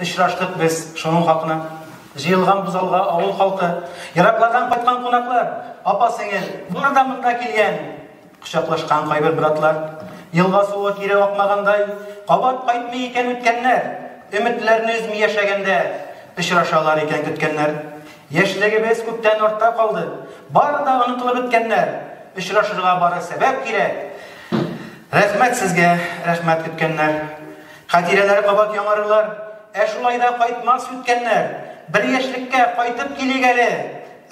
Очраштык без шуның хакына. Җыелган бузалга авыл халкы, ераклардан кайткан кунаклар, апа-сеңел, бары да монда килгән. Кочаклашкан кайбер братлар, елга суы кире акмагандай, кабат кайтмый икән үткәннәр, өметләрне өзми яшәгәндә, очрашалар икән көткәннәр. Яшьлегебез күптән артта калды, бары да онытылып беткәннәр. Очрашырга бары сәбәп кирәк. Рәхмәт сезгә, рәхмәт көткәннәр. Хатирәләр кабат яңарырлар. Ә шулай да кайтмас үткәннәр. Бер яшьлеккә кайтып килик әле!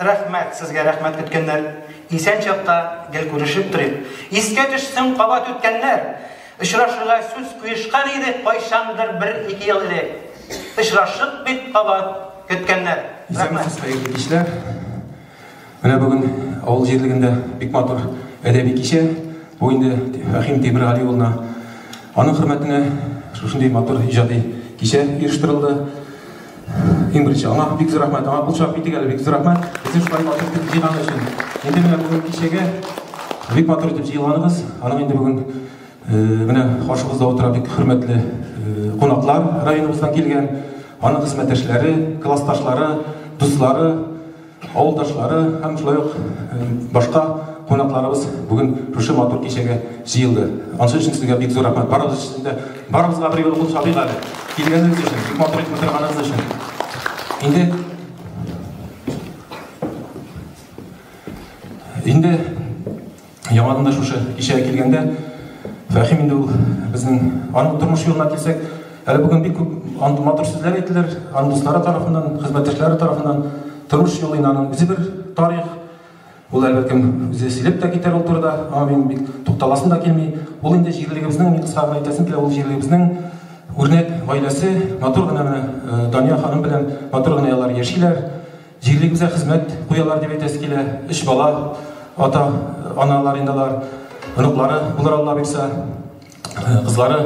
Рәхмәт, сезгә рәхмәт көткәннәр. Исән чакта гел күрешеп торыйк. Искә төшсен кабат үткәннәр. Очрашырга сүз куешкан идек кайчандыр бер-ике ел элек. Очрашык бит кабат көткәннәр. Исәнмесез, хәерле кичләр! Менә бүген авыл җирлегендә бик матур әдәби кичә. Бу инде Фәһим Тимергали улына, аның хөрмәтенә шушындый матур иҗади кичә оештырылды. Иң беренче аңа бик зур рәхмәт. Аңа кул чабып китик әле, бик зур рәхмәт. Безне шулай матур итеп җыйганы өчен. Инде менә бүген кичәгә бик матур итеп җыелганыгыз. Аның инде бүген менә каршыбызда утыра бик хөрмәтле кунаклар районыбыздан килгән, аның хезмәттәшләре, классташлары, дуслары. Авылдашлары һәм шулай ук башка кунакларыбыз бүген шушы матур кичәгә җыелды. Ансы өчен сезгә бик зур рәхмәт. Барыгыз өчен дә, барыгызга бер юлы кул чабыйк әле. Килгәнегез өчен, бик матур итеп утырганыгыз өчен. Инде Инде Яңадан да шушы кичәгә килгәндә, Фәхим инде ул безнең аның тормыш юлына килсәк, әле бүген бик күп андый матур сүзләр әйтелер, аның дуслары тарафыннан, хезмәттәшләре тарафыннан тормыш юлы инде аның үзе бер тарих. Ул әлбәттә кем үзе сөйләп тә китәр ул турыда, аңа мин бик тукталасым да килми. Ул инде җирлегебезнең, мин кыска гына әйтәсем килә, ул җирлегебезнең үрнәк гаиләсе, матур гына менә Дания ханым белән матур гына алар яшиләр. Җирлегебездә хезмәт куялар дип әйтәсе килә. Өч бала, ата, аналар инде алар. Оныклары булыр Алла боерса. Кызлары,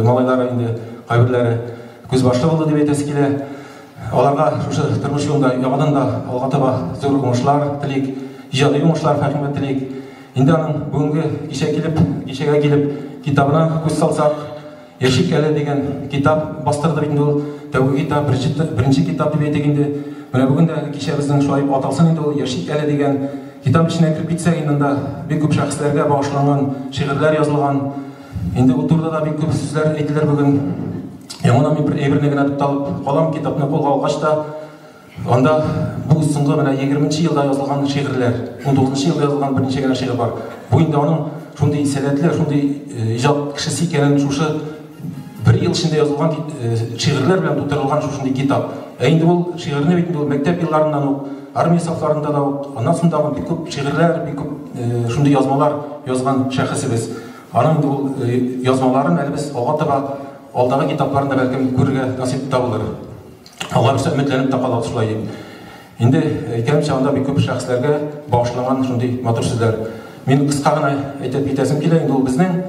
малайлары инде кайберләре күзбашлы булды дип әйтәсе килә. Аларга шушы тормыш юлында яңадан да алга таба зур уңышлар телик, иҗади уңышлар Фәһимгә телик. Инде аның бүгенге кичә килеп, кичәгә килеп китабына күз салсак, Яшик әле дигән китап бастырды бит инде ул. Тәүге китап, беренче, беренче китап дип әйтик инде. Менә бүген дә әле кичәбезнең шулай дип аталсын инде ул, Яшик әле дигән китап эченә кереп китсәк инде анда бик күп шәхесләргә багышланган шигырьләр язылган. Инде ул турыда да бик күп сүзләр әйтелер бүген. Яңадан мин бер әйберне генә тукталып калам, китапны кулга алгач та, Анда бу соңгы менә егерме нче елда язылган шигырьләр, унтугыз нчы елда язылган берничә генә шигырь бар. Бу инде аның шундый сәләтле, шундый иҗат кешесе икәнен шушы бер ел эчендә язылган шигырьләр белән тутырылган шушындый китап. Ә инде ул шигырьне бит инде ул мәктәп елларыннан ук, армия сафларында да ук, аннан соң да бик күп шигырьләр, бик күп шундый язмалар язган шәхесебез. Аның инде ул язмаларын әле без ага-таба алдагы китапларында бәлкем күрергә насыйп та булыр. Аларча өметләнеп тә калабыз шулай дип. Инде әйткәнемчә, анда бик күп шәхесләргә багышланган шундый матур сүзләр. Мин кыска гына әйтеп китәсем килә, инде ул безнең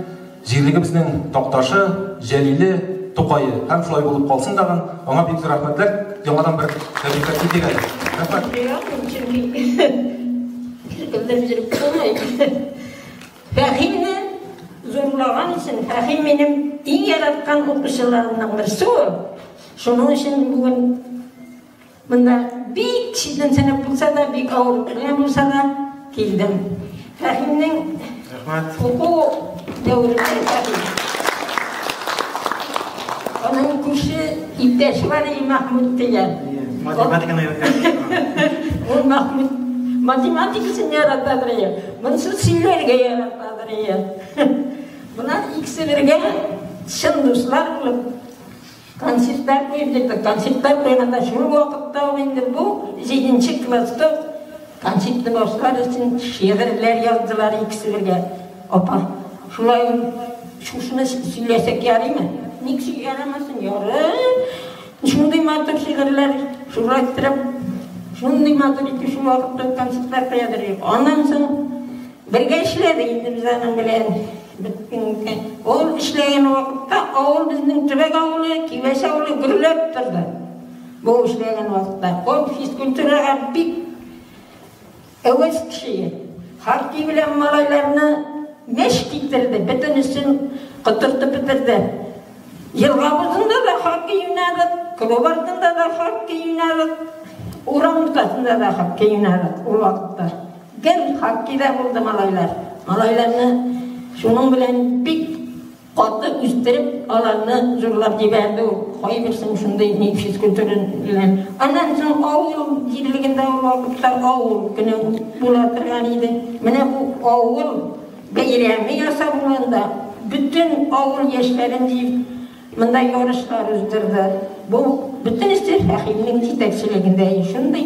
җирлегебезнең Такташы, Җәлиле, Тукае. Һәм шулай булып калсын тагын. Аңа бик зур рәхмәтләр. Яңадан бер тәбриккә китик әле. Рәхмәт. Ярамый, чөнки беркемдер биреп булмый. Фәһимне зурлаган өчен, Фәһим минем иң яраткан укучыларымның берсе ул. Шуның өчен бүген монда бик читен сәнәп булса да, бик авыр белән булса да килдем. Рәхимнең Рәхмәт. Уку дәверендә Аның күрше иптәш бар и Махмуд дигән. Математиканы өйрәткән. Ул Махмуд математикасын яратадыр ия. Монсы сөйләргә яратадыр ия. Монар икесе бергә чын дуслар булып Концертлар куйдык, концертлар куйганда шул вакытта ук инде бу җиденче класста концертны башлар өчен шигырьләр яздылар икесе бергә. Апа, шулай шушыны сөйләсәк ярыймы? Ник ярамасын, ярый. Шундый матур шигырьләр шурайттырып, шундый матур итеп шул вакытта концертлар куядыр. Аннан соң Бергә эшләдек Илгизаның белән. Ул эшләгән вакытта авыл безнең төбәк авылы, Кибәс авылы гөрләп торды. Бу эшләгән вакытта ул физкультурага бик әвәз кеше. Хоккей белән малайларны мәш китерде, бөтенесен котыртып бетерде. Елга бузында да хоккей уйнадык, клуб артында да хоккей уйнадык, урам уртасында да хоккей уйнадык ул вакытта. Гел хоккейда булды малайлар. Малайларны шуның белән бик каты үстереп, аларны зурлап җибәрде ул. Кайберсен шундый ни физкультура белән. Аннан соң авыл җирлегендә ул вакытлар авыл көне була торган иде. Менә бу авыл бәйрәме ясап булганда бөтен авыл яшьләрен җыеп монда ярышлар уздырды. Бу бөтенесе Фәхимнең җитәкчелегендә шундый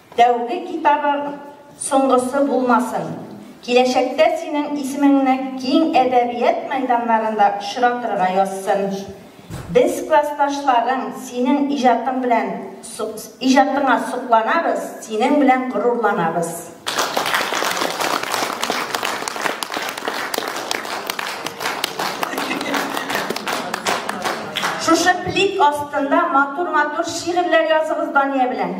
Тәүге китабың соңгысы булмасын. Киләчәктә синең исемеңне киң әдәбият мәйданнарында очратырга язсын. Без классташларың синең иҗатың белән иҗатыңа сокланабыз, синең белән горурланабыз. Шушы плит астында матур-матур шигырьләр языгыз Дания белән.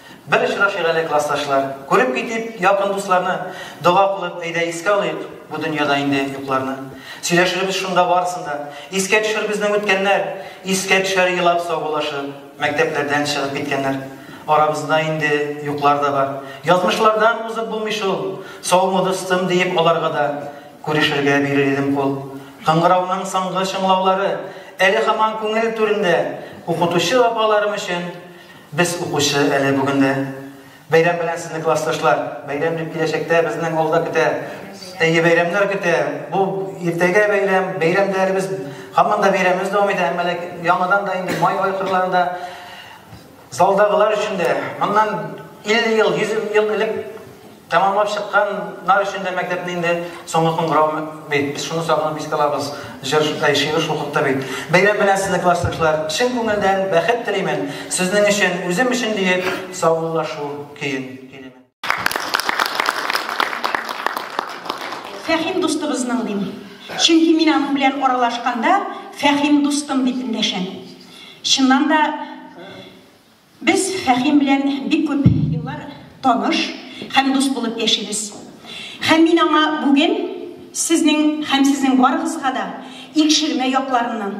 Бер очрашыйк әле, классташлар. Күреп китик якын дусларны. Дога кылып, әйдә искә алыйк Бу дөньяда инде юкларны. Сөйләшербез шунда барысын да. Искә төшәр безнең үткәннәр, Искә төшәр елап саубуллашып, Мәктәпләрдән чыгып киткәннәр. Арабызда инде юклар да бар. Язмышлардан узып булмый шул. Саумы, дустым, диеп аларга да, Күрешергә бирер идем кул. Кыңгырауның соңгы чыңлаулары Әле һаман күңел түрендә. Укытучы апаларым өчен Без укучы әле бүген дә. Бәйрәм белән сезне классташлар! Бәйрәм бит киләчәктә безнең алда көтә. Әйе, бәйрәмнәр көтә. Бу иртәгә бәйрәм, бәйрәм дә әле без һаман да бәйрәмебез дәвам итә, әмма ләкин яңадан да инде май ай кырларында залдагылар өчен дә моннан 50 ел, 100 ел элек Тәмамлап чыкканнар өчен дә мәктәпне инде соңгы кыңгырау бит. Без шуны сагынып искә алабыз. Җыр, әй, шигырь шул хакта бит. Бәйрәм белән сезне, классташлар! Чын күңелдән бәхет телимен, сезнең өчен, үзем өчен диеп, саубуллашу көен көйлимен. Фәһим дустыбызның, дим. Чөнки мин аның белән аралашканда, Фәһим дустым дип эндәшәм. Чыннан да. Без Фәһим белән бик күп еллар таныш һәм дус булып яшибез. Һәм мин аңа бүген сезнең һәм сезнең барыгызга да Икшермә якларыннан,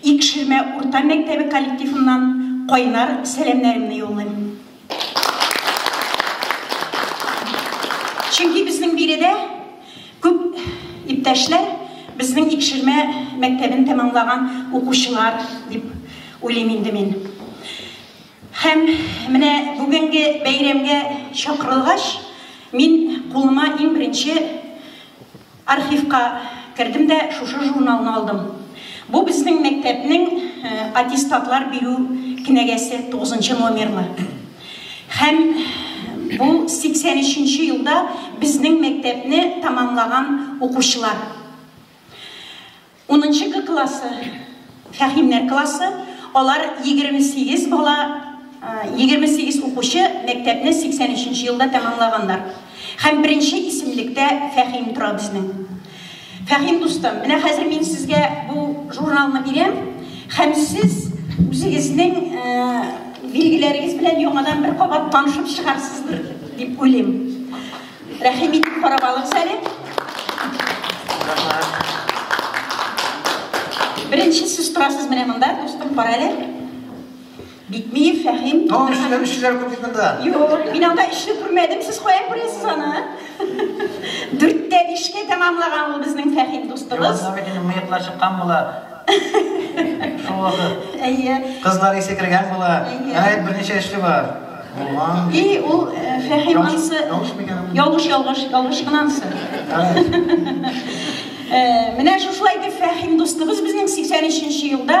Икшермә урта мәктәбе коллективыннан кайнар сәламнәремне юллыйм. Чөнки безнең биредә Күп иптәшләр безнең Икшермә мәктәбен тәмамлаган укучылар дип уйлыйм инде мин. Һәм менә бүгенге бәйрәмгә чакырылгач, мин кулыма иң беренче архивка кердем дә шушы журналны алдым. Бу безнең мәктәпнең аттестатлар бирү кенәгәсе, тугызынчы номерлы. Һәм бу 83 нче елда безнең мәктәпне тәмамлаган укучылар. Унынчы Г классы, Фәһимнәр классы, алар 28 бала, 28 укучы мәктәпне 83 нче елда тәмамлаганнар. Һәм беренче исемлектә Фәһим тора безнең. Фәһим дустым, менә хәзер мин сезгә бу журналны бирәм, һәм сез үзегезнең э, билгеләрегез белән яңадан бер кабат танышып чыгарсыздыр дип уйлыйм. Рәхим итеп карап алыгыз әле. Беренче сез торасыз менә монда, дустым, кара әле. Битмиев Фәһим. Ну, эшләр, эшләр күп бит монда. Юк, мин анда эшне күрмәдем, сез каян күрәсез аны? Дүрттә бишкә тәмамлаган ул безнең Фәһим дустыбыз. Янда бит инде мыеклар чыккан була. Шул вакыт. Әйе. Кызлар исе кергән була. Әнә берничә эшле бар. Булган. И, ул Фәһим ансы. Ялгыш микән? Ялгыш, ялгыш, ялгыш кына ансы. Менә шушылай итеп Фәһим дустыбыз безнең 83 нче елда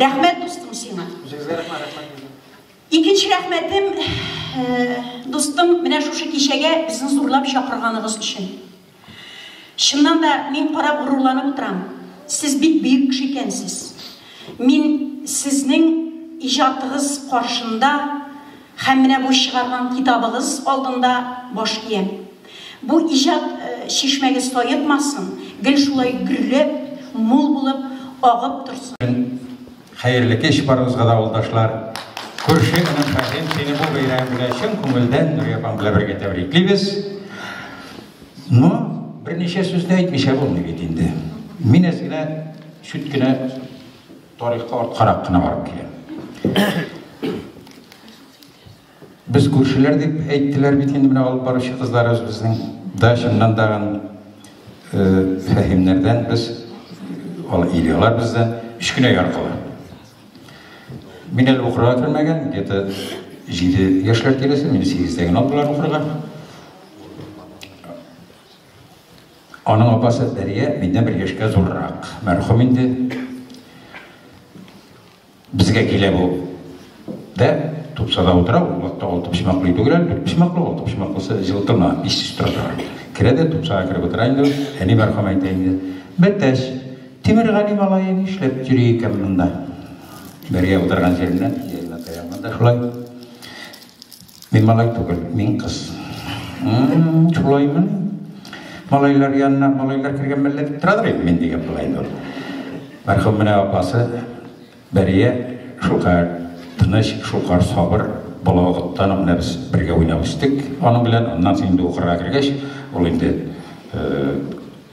Рәхмәт дустым сиңа. Үзегезгә рәхмәт, рәхмәт безгә. Икенче рәхмәтем э, дустым, менә шушы кичәгә безне зурлап чакырганыгыз өчен. Чыннан да мин карап горурланып утырам. Сез бик бөек кеше икәнсез. Мин сезнең иҗатыгыз каршында һәм менә бу чыгарган китабыгыз алдында баш иям. Бу иҗат чишмәгез саекмасын, гел шулай гөрләп, мул булып агып торсын. Хәерле кич барыгызга да авылдашлар! Күрше энем Фәһим, сине бу бәйрәм белән чын күңелдән Нурия апам белән бергә тәбриклибез. Ну, берничә сүз дә әйтмичә булмый бит инде. Мин әз генә чүт кенә тарихка арткарак кына барып киләм. Без күршеләр дип әйттеләр бит инде менә алып баручы кызларыбыз безнең. Да чыннан да гын фәһимнәрдән без ал илялар бездән кечкенә яркылар. Мин әле укырга кермәгән, где-то 7 яшьләр тирәсе, мине 8-дә генә алдылар укырга. Аның апасы Дәрия миннән бер яшькә зуррак. Мәрхүм инде. Безгә килә бу дә тупсада утыра, ул вакытта алты почмаклы өй түгел әле, дүрт почмаклы, алты почмаклысы җылытына, иссез тора тагын. Керә дә тупсага кереп утыра инде ул, әни мәрхүм әйтә инде, Бәтәч, Тимергали малае нишләп йөри икән монда? Бергә утырган җиреннән, иягенә таянган да шулай. Мин малай түгел, мин кыз. Шулаймы? Малайлар янына малайлар кергән мәллә дип торадыр инде мин дигән була инде ул. Мәрхүм менә апасы Бәрия шулкадәр тыныч, шулкадәр сабыр, бала вакыттан менә без бергә уйнап үстек аның белән. Аннан соң инде укырга кергәч, ул инде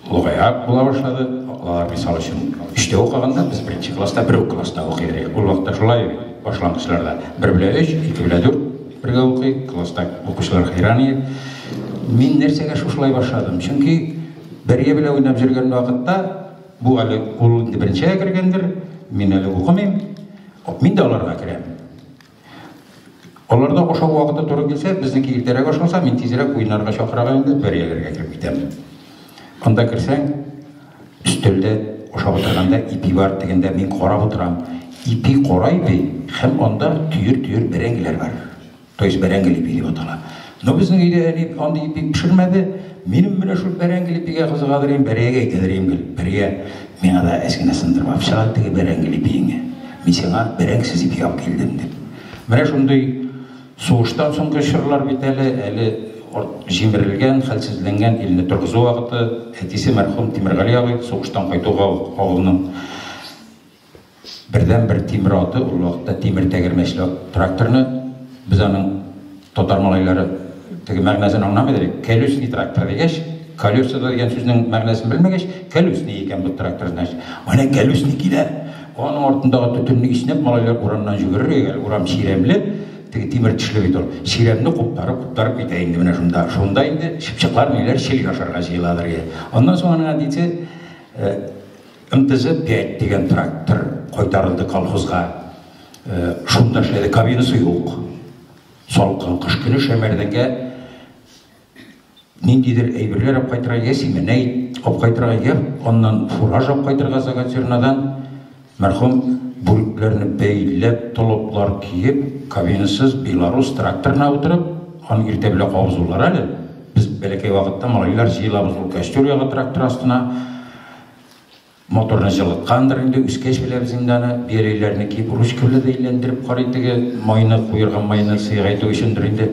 Олыгайрак була башлады. Алар мисал өчен өчтә укыганда без беренче класста бер үк класста укый идек. Ул вакытта шулай башлангычларда бер белә өч, ике белә дүрт бергә укый, класста укучылар хәйран иде. Мин нәрсәгә шушылай башладым? Чөнки бергә белә уйнап йөргән вакытта бу әле ул инде беренчегә кергәндер, мин әле укымыйм. Мин дә аларга керәм. Аларда ашау вакыты туры килсә, безнеке иртәрәк ашалса, мин тизрәк уеннарга чакырырга инде бер ягәргә кереп китәм. Анда керсәң, өстәлдә ашап утырганда ипи бар дигәндә мин карап утырам. Ипи кара ипи һәм анда төер-төер бәрәңгеләр бар. То есть бәрәңгел ипи дип атала. Но безнең өйдә әни андый ипи пешермәде. Минем менә шул бәрәңгел ипигә кызыгадыр идем, бәрәйгә әйтәдер идем гел. Бәрия, миңа да әз генә сындырып алып чык әле теге бәрәңгел ипиеңне. Мин сиңа бәрәңгесез ипи алып килдем, дип. Менә шундый сугыштан соңгы чорлар бит әле, әле җимерелгән, хәлсезләнгән илне торгызу вакыты. Әтисе мәрхүм Тимергали абый сугыштан кайтуга ук авылның. Бердәнбер тимер аты ул вакытта тимер тәгәрмәчле ат, тракторны без аның татар малайлары теге мәгънәсен аңламый да бит, колесный трактор дигәч, колеса дигән сүзнең мәгънәсен белмәгәч, колесный икән бу трактор, значит. Менә колесный килә. Аның артындагы төтенне иснәп малайлар урамнан йөгерергә, әле урам чирәмле, теге тимер тешле бит ул. Чирәмне куптарып, куптарып китә инде менә шунда. Шунда инде чыпчыклар ниләр чилек ашарга җыеладыр. Аннан соң аның әтисе э, МТЗ, 5 дигән трактор кайтарылды колхозга. Шунда эшләде, кабинасы юк. Салкын кыш көне шәмәрдәнгә ниндидер әйберләр алып кайтырга, я симәнәй алып кайтырга, я аннан фураж алып кайтырга Загатюрнадан мәрхүм бүрекләрне бәйләп, толыплар киеп, кабинасыз белорус тракторына утырып, аны иртә белән кабызулар әле. Без бәләкәй вакытта малайлар җыелабыз ул костер ягы трактор астына. Моторны җылыткандыр инде, үскәч беләбез инде аны. Бияләйләрне киеп ручка белән дә әйләндереп карый теге майны, куерган майны сыйгайту өчендер инде.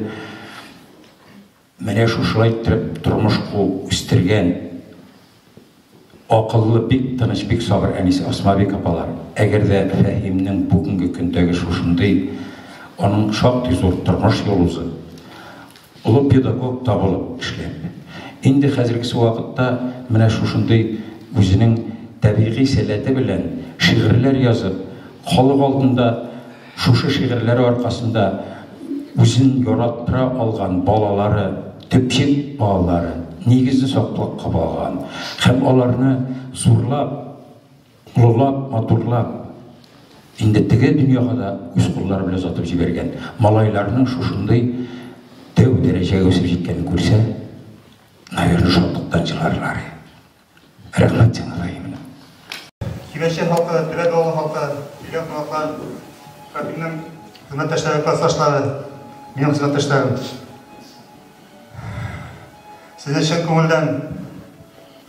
Менә шушылай иттереп тормыш ку үстергән акыллы, бик тыныч, бик сабыр әнисе Асмабик апалар. Әгәр дә Фәһимнең бүгенге көндәге шушындый, аның шактый зур тормыш юл узып, Олы педагог табылып эшлә. Инде хәзергесе вакытта менә шушындый үзенең табигый сәләте белән шигырьләр язып, халык алдында шушы шигырьләре аркасында үзен яраттыра алган балалары, төпчек балалары, нигезен саклап кабалган һәм аларны зурлап, Олылап, матурлап, инде теге дөньяга да үз куллары белән озатып җибәргән малайларның шушындый тәү дәрәҗәгә үсеп җиткәнен күрсә, наверное, шатлыктан җырларлар. Рәхмәт сиңа, Фаимина. Киләчәк халкы, Теләк авылы халкы, килгән кунаклар, Фәхримнең хезмәттәшләре, классташлары, минем хезмәттәшләрем. Сезне чын күңелдән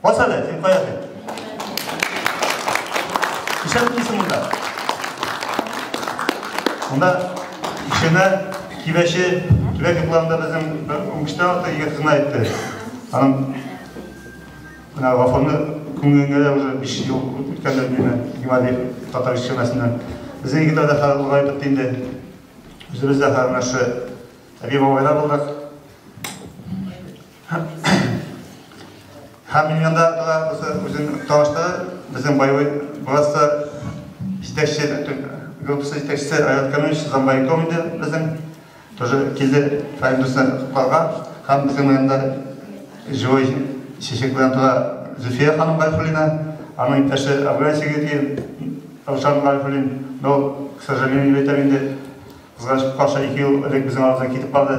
Башады, син каясың? Ишәп килсен монда. Монда ишенә кибәче төбәк йокларында безнең бер уңышта ата егет кына әйтте. Аның менә вафаны күңелеңә дә уже биш ел үткәндер димә, Гималиев татар ишемәсеннән. Безнең егетләр дә хәзер олыгайып бетте инде. Үзебез дә хәзер менә шушы әби бабайлар булдык. Һәм миллионда да булса үзен таныштыра, безнең боевой братство җитәкче, группасы җитәкчесе Айрат Камилович Замбайком инде безнең, тоже килде Фәридусны котларга, һәм безнең белән дә живой чәчәк белән тора Зөфия ханым Гайфуллина, аның иптәше Афган Сигети, Рушан Гайфуллин, но, к сожалению, дип әйтәм инде, кызганыч каршы ике ел элек безнең арабыздан китеп барды.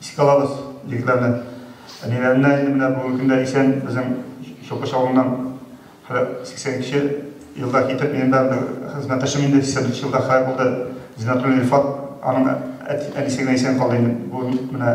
Искә алабыз, егетләрне. Әниләренә инде менә бүгенге көндә исән безнең Чукыш авылыннан 82 нче елда китеп, минем дә бер хезмәттәшем инде 83 нче елда хәлак булды. Зиннәтуллин Илфат, аның әти, әнисе генә исән калды инде. Бүген менә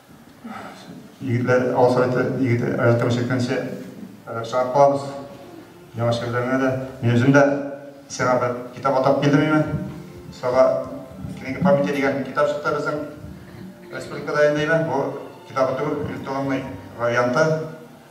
Егетләр алга сорайды, егет аерылып чиккәнче чыгып калабыз. Яңа шигырьләреңә дә. Мин үзем дә сиңа бер китап атап килдем име. Сага книга памяти дигән китап чыкты безнең республикада инде име. Бу китап түгел, электронный варианты.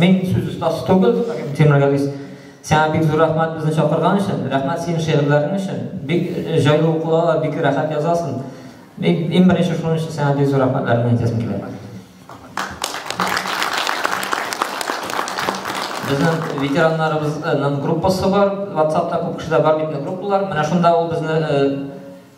Мин сүз остасы түгел, Тимер Газиз. Сиңа бик зур рәхмәт безне чакырган өчен. Рәхмәт синең шигырьләрең өчен. Бик җайлы укылалар, бик рәхәт язасың. Мин иң беренче шуның өчен сиңа бик зур рәхмәтләрне әйтәсем килә. Безнең ветераннарыбызның группасы бар, WhatsApp-та күп кешеләр бар бит, группалар. Менә шунда ул безне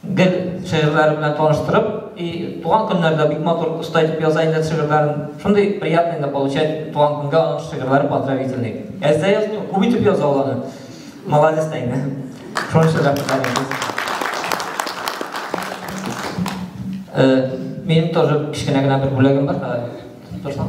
Гел шигырьләре белән таныштырып, и туган көннәрдә бик матур оста итеп яза инде шигырьләрен. Шундый приятный инде получать туган көнгә аның шигырьләре поздравительный. Әз дә язмый, күп итеп яза ул аны. Молодец та инде. Шуның өчен рәхмәтләр әйтәбез. Минем тоже кечкенә генә бер бүләгем бар. Торсаң.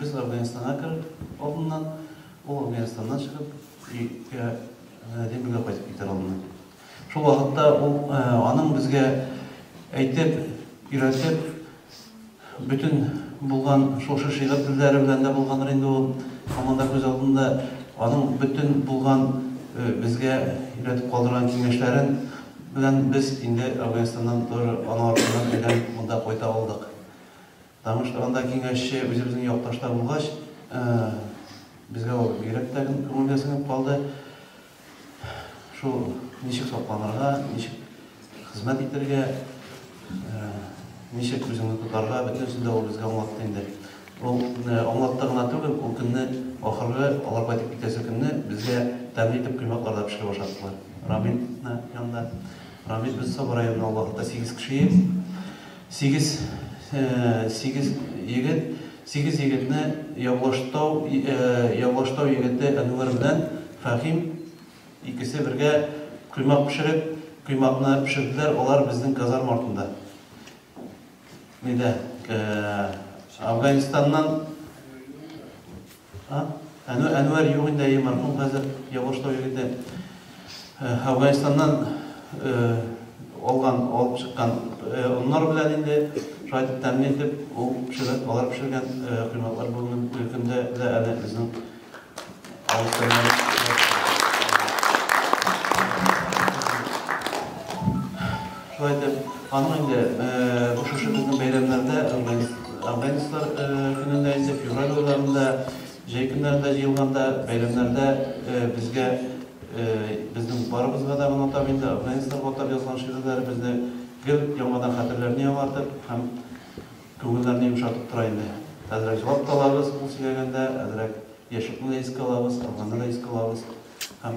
Без Әфганстанга кереп, алдыннан, ул Әфганстаннан чыгып, өйгә, Римга кайтып китәр алдыннан. Шул вакытта ул, аның безгә әйтеп, өйрәтеп, бөтен булган шушы шигырь сүзләре белән дә булгандыр инде ул, һаман да күз алдында, аның бөтен булган безгә өйрәтеп калдырган киңәшләрен белән без инде Әфганстаннан тоже аның артыннан әйләнеп монда кайта алдык. Таныштырганда киңәшче үзебезнең якташта булгач, безгә ул бигрәк тә күңелгә сеңеп калды. Шул ничек сакланырга, ничек хезмәт итәргә, ничек үзеңне тотарга, бөтенесен дә ул безгә аңлатты инде. Ул аңлатты гына түгел, ул көнне ахыргы, алар кайтып китәсе көнне безгә тәмле итеп коймаклар да пешереп ашаттылар. Рамил янында. Рамил без Саба районыннан, ул вакытта сигез кеше идек. Сигез сигез егет сигез егетне Явлаштау Явлаштау егете Әнвәр белән Фәһим икесе бергә коймак пешереп, коймакны пешерделәр Алар безнең казарма артында нидә Афганистаннан А? Әнүәр, Әнүәр юк инде, әйе, мәрхүм хәзер Явашлау егете. Э, Әфганстаннан э, алган, алып чыккан э, оннар белән инде шулай итеп тәмле итеп ул пешереп, алар пешергән э, кыйммәтләр бүгенге көндә дә әле безнең авылда. Шулай итеп, аның инде бу шушы безнең бәйрәмнәрдә, Органистлар көнендә инде, февраль айларында, җәй көннәрендә җыелганда, бәйрәмнәрдә безгә, безнең барыбызга да гына атап инде, органистларга атап язган шигырьләребезне гел яңадан хәтерләрне яңартып һәм күңелләрне йомшартып тора инде. Әзрәк җылап та алабыз, кул сөйләгәндә, әзрәк Яшьюкны да искә алабыз, Арганны да искә алабыз һәм.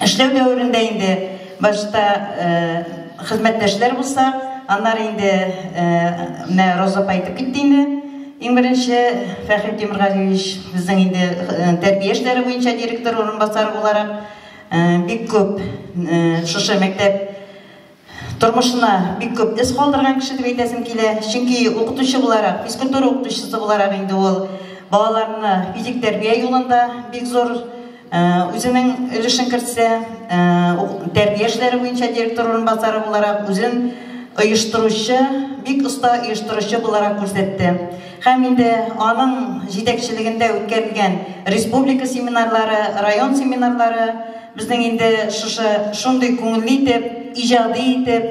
Эшләү дәверендә инде башта хезмәттәшләр булса, аннары инде менә Роза апа әйтеп китте инде. Иң беренче Фәхри Тимергалиевич безнең инде тәрбия эшләре буенча директор урынбасары буларак бик күп шушы мәктәп Тормышына бик күп эз калдырган кеше дип әйтәсем килә, чөнки укытучы буларак, физкультура укытучысы буларак инде ул балаларны физик тәрбия юлында бик зур үзенең өлешен кертсә, тәрбия эшләре буенча директор урынбасары буларак үзен оештыручы, бик оста оештыручы буларак күрсәтте. Һәм инде аның җитәкчелегендә үткәрелгән республика семинарлары, район семинарлары безнең инде шушы шундый күңелле итеп, иҗади итеп,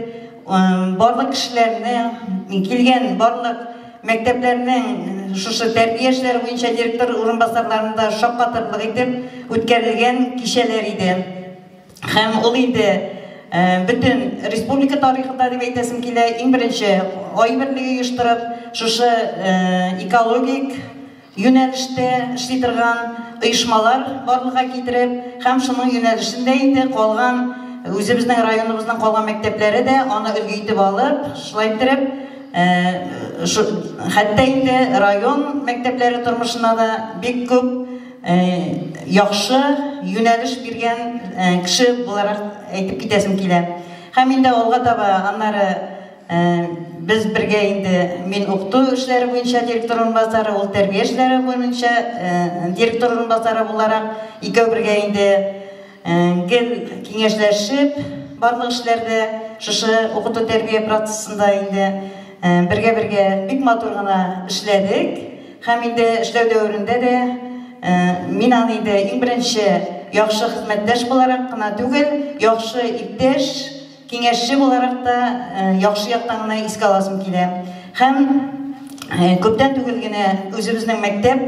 барлык кешеләрне, килгән барлык мәктәпләрнең шушы тәрбия эшләре буенча директор урынбасарларын да шаккатырлык итеп үткәрелгән кичәләр иде. Һәм ул инде бөтен республика тарихында дип әйтәсем килә, иң беренче Ай берлеге оештырып, шушы экологик юнәлештә эшли торган оешмалар барлыкка китереп һәм шуның юнәлешендә инде калган үзебезнең районыбызның калган мәктәпләре дә аны өлге итеп алып, шулай иттереп, хәтта инде район мәктәпләре тормышына да бик күп Э, яхшы юнәлеш биргән э, кеше буларак әйтеп китәсем килә. Һәм инде алга таба аннары э, без бергә инде мин укыту эшләре буенча директор урынбасары, ул тәрбия эшләре буенча директор урынбасары буларак икәү бергә инде гел киңәшләшеп барлык эшләрдә шушы укыту тәрбия процессында инде бергә-бергә бик матур гына эшләдек. Һәм инде эшләү дәверендә дә мин аны инде иң беренче яхшы хезмәттәш буларак кына түгел, яхшы иптәш, киңәшче буларак та яхшы яктан гына искә аласым килә. Һәм күптән түгел генә үзебезнең мәктәп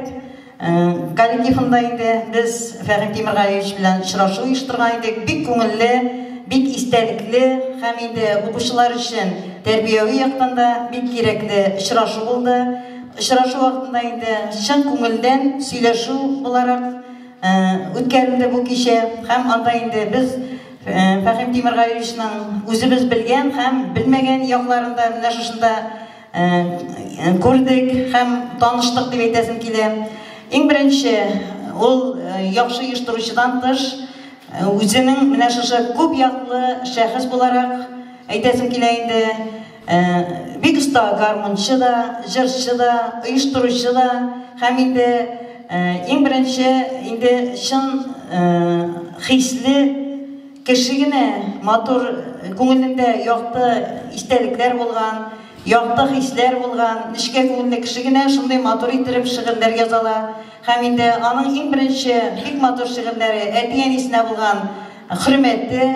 коллективында инде без Фәхим Тимергалиевич белән очрашу оештырган идек. Бик күңелле, бик истәлекле һәм инде укучылар өчен тәрбияви яктан да бик кирәкле очрашу булды. Очрашу вакытында инде чын күңелдән сөйләшү буларак үткәрелде бу кичә һәм анда инде без Фәхим Тимергалиевичның үзебез белгән һәм белмәгән якларын да менә шушында күрдек һәм таныштык дип әйтәсем килә. Иң беренче ул яхшы оештыручыдан тыш үзенең менә шушы күп яклы шәхес буларак әйтәсем килә инде. Э, бик оста гармунчы да, җырчы да, оештыручы да, һәм инде э, иң беренче инде чын э, хисле кеше генә матур күңелендә якты истәлекләр булган, якты хисләр булган, нечкә күңелле кеше генә шундый матур итеп шигырьләр язала. Һәм инде аның иң беренче бик матур шигырьләре әти-әнисенә булган хөрмәте,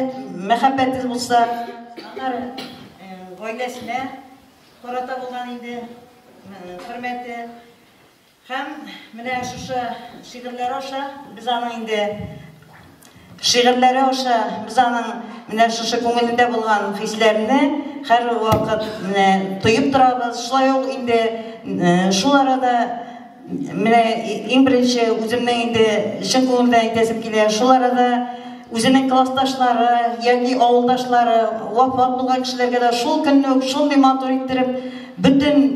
мәхәббәте булса, Гаиләсенә карата булган инде хөрмәте һәм менә шушы шигырьләре аша без аның инде шигырьләре аша без аның менә шушы күңелендә булган хисләрне һәрвакыт менә тоеп торабыз. Шулай ук инде шул арада Менә иң беренче үземнең инде чын күңелдән әйтәсем килә. Шул арада үзенең классташлары яки авылдашлары вафат булган кешеләргә дә шул көнне үк шундый матур иттереп бөтен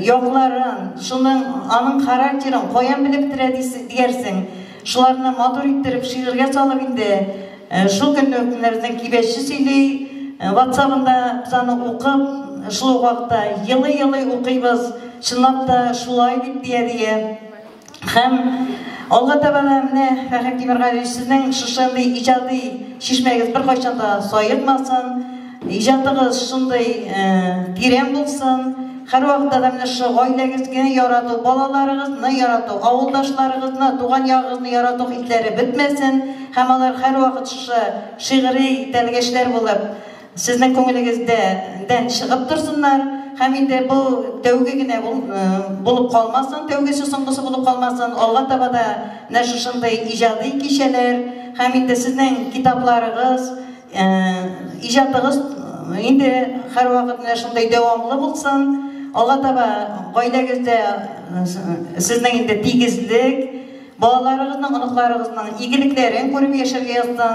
якларын, шуның аның характерын каян белеп бетерә диясең. Шуларны матур иттереп шигырьгә салып инде шул көнне үк безнең кибәче сөйли, ватсабында без аны укып, шул ук вакытта елый-елый укыйбыз, чынлап та шулай бит дия-дия. Һәм алга таба да менә Фәхри Тимергалиевич сезнең шушындый иҗади чишмәгез беркайчан да саекмасын. Иҗатыгыз шундый тирән булсын. Һәрвакытта да менә шушы гаиләгезгә ярату, балаларыгызны ярату, авылдашларыгызны, туган ягыгызны ярату хисләре бетмәсен һәм алар һәрвакыт шушы шигъри тәлгәшләр булып сезнең күңелегездә дән чыгып торсыннар һәм инде бу тәүге генә булып калмасын, тәүгесе соңгысы булып калмасын. Алга таба да менә шушындый иҗади кичәләр һәм инде сезнең китапларыгыз, Ә, иҗатыгыз инде һәрвакыт менә шундый дәвамлы булсын. Алга таба гаиләгездә сезнең инде тигезлек, балаларыгызның, оныкларыгызның игелекләрен күреп яшәргә язсын.